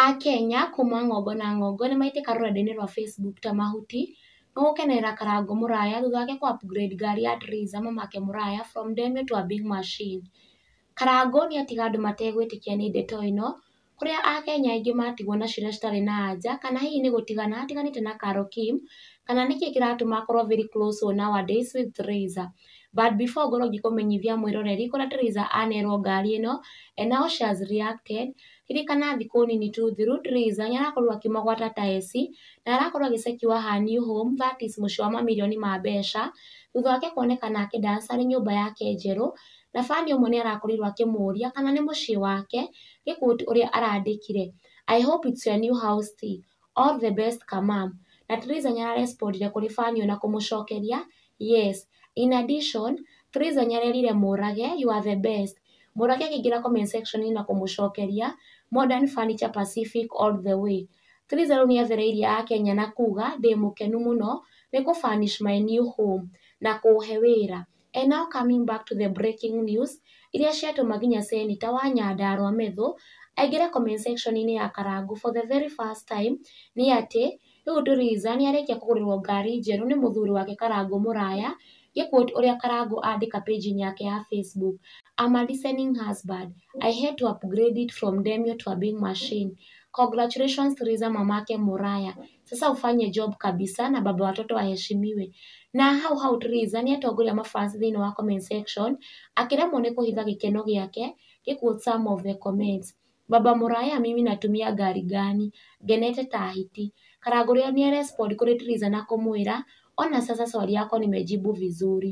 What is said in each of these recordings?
Akenya kuma ng'ongo na ng'ongo nĩ maitĩka rũrenda-inĩ rwa Facebook ta mahuti, nĩ gũkenerera Karango mũraya thutha wake kũ upgrade ngari ya Trizza mamake mũraya from ndemwa to a big machine. Karango nĩ atiga andũ mategwĩtĩkia nĩ ndeto ĩno, kũrĩa Akenya aingĩ matigwo na ciũria citarĩ na anja, kana hihi nĩ gũtigana atiganĩte na Carol Kim, kana nĩkĩ kĩratũma akorwo very close nowadays with Trizza. But before ngorwo ngĩkũmenyithia mwĩroreri kũrĩa Trizza anerwo ngari ĩno and how she has reacted, Ririkana thikũ nini tu thiru Theresa nĩ arakorwo akĩmũgwata ta eci na arakorwo agĩcekiwa her new home that is mũciĩ wa mamirioni ma mbeca, thutha wake kuonekana akĩ dancer arĩ nyũmba yake njerũ, na fan ũmwe nĩ arakorirwo akĩmũria kana nĩ mũciĩ wake, nĩ quote ũrĩa arandĩkire, I hope it's your new house tea All the best Kamam. Na Teresa nĩ ara respondire kũrĩ fan ĩyo na kũmũcokeria, Yes. In addition, Teresa nĩ arerire Mũrage, You are the best. Mũrage akĩingĩra comment section -inĩ na kũmũcokeria, Modern Furniture Pacific all the way. Teresa rĩu nĩ athereirie Akenya na kuuga, Ndĩ mũkenu mũno nĩ kũ furnish my new home na kũũhe wĩra. And now coming back to the breaking news iria ciatũma nginya Senator wa Nyandarua Methũ aingĩre comment section inĩ ya Karangũ for the very first time nĩ atĩ rĩu Theresa nĩ arĩkia kũgũrĩrwo ngari njerũ nĩ mũthuri wake Karangũ Mũraya ngĩ quote ũrĩa Karangũ andĩka page inĩ yake ya Facebook I'm a listening husband I had to upgrade it from demio to a big machine congratulations Theresa Mamake Mũraya Sasa ufanye job kabisa na baba watoto aheshimiwe. Na hau hau Theresa nĩ atongoria mabans thĩinĩ wa comment section akĩremwo nĩ kũhitha gĩkeno gĩake gĩ quote some of the comments. Baba Muraya mimi natumia gari gani? Ngenete ta hiti. Karangũ rĩo nĩ arespond kũrĩ Theresa na kũmwĩra ona sasa swali yako nimejibu vizuri.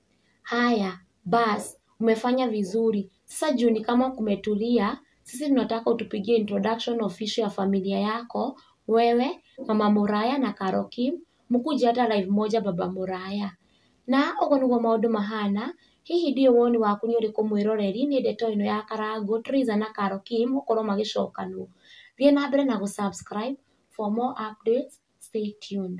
Haya bas umefanya vizuri. Sasa juu ni kama kumetulia, sisi tunataka utupigie introduction of issue ya familia yako, wewe, mama Muraya na Karo Kim, mkuje hata live moja baba Muraya. Na ũguo nĩguo maũndũ mahana, hihi ndiũĩ woni waku nĩ ũrĩkũ mwĩroreri nĩ ndeto ĩno ya Karangũ, Teresa na Karo Kim gũkorwo magĩcokanwo. Thiĩ na mbere na gũ subscribe for more updates, stay tuned.